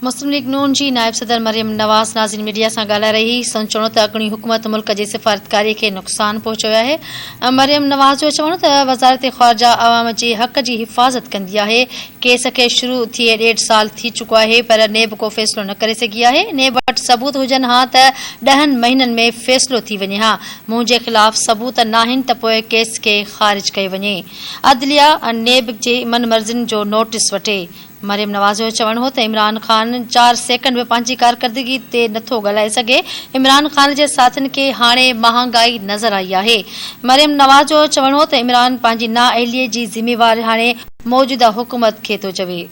مسلم ليگ نون جي نائب صدر مريم نواز نازين ميڊيا سان ڳالهائي رهي هئي، سندس چوڻ هو ته اڳوڻي حڪومت ملڪ جي سفارتڪاري کي نقصان پهچايو آهي. مريم نواز جو چوڻ هو ته وزارت خارجه عوام جي حق جي حفاظت ڪندي آهي، ڪيس کي شروع ٿئي ڏيڍ سال ٿي چڪو آهي پر نيب ڪو فيصلو نه ڪري سگهي آهي، نيب وٽ ثبوت هجن ها ته ڏهن مهينن ۾ فيصلو ٿي وڃي ها، منهنجي خلاف ثبوت ناهن ته پوء ڪيس کي خارج ڪيو وڃي، عدليه نيب جي من مرضين جو نوٽيس وٺي. مريم نواز جو چوڻ هو ته عمران خان چار سيڪنڊ به پنهنجي ڪارڪردگي تي نٿو ڳالهائي سگهي، عمران خان جي ساٿين کي هاڻي مهانگائي نظر آئي آهي. مريم نواز جو چوڻ هو ته عمران پنهنجي نااهلي جي ذميواري هاڻي موجوده حڪومت کي ٿو چوي.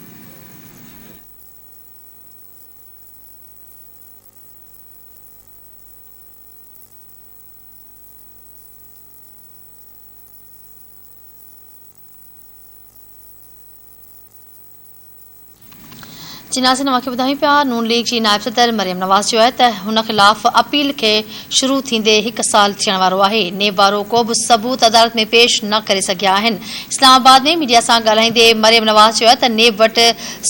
جي ناظرين اوهان کي ٻڌايون پيا نون ليگ جي نائب صدر مريم نواز چيو آهي ته هن خلاف اپيل کي شروع ٿيندي هڪ سال ٿيڻ وارو آهي نيب وارو ڪو به ثبوت عدالت ۾ پيش نه ڪري سگهيا آهن اسلام آباد ۾ ميڊيا سان ڳالهائيندي مريم نواز چيو آهي ته نيب وٽ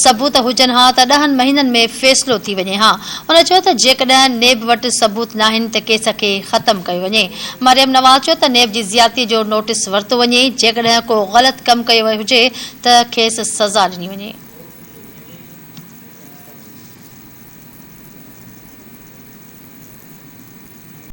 ثبوت هجن ها ته ڏهن مهينن ۾ فيصلو ٿي وڃي ها. هن چيو ته جيڪڏهن نيب وٽ ثبوت ناهن ته ڪيس کي ختم ڪيو وڃي. مريم نواز چيو ته نيب جي زيادتي جو نوٽيس ورتو وڃي، جيڪڏهن ڪو غلط ڪم ڪيو ويو هجي ته کيس سزا ڏني وڃي.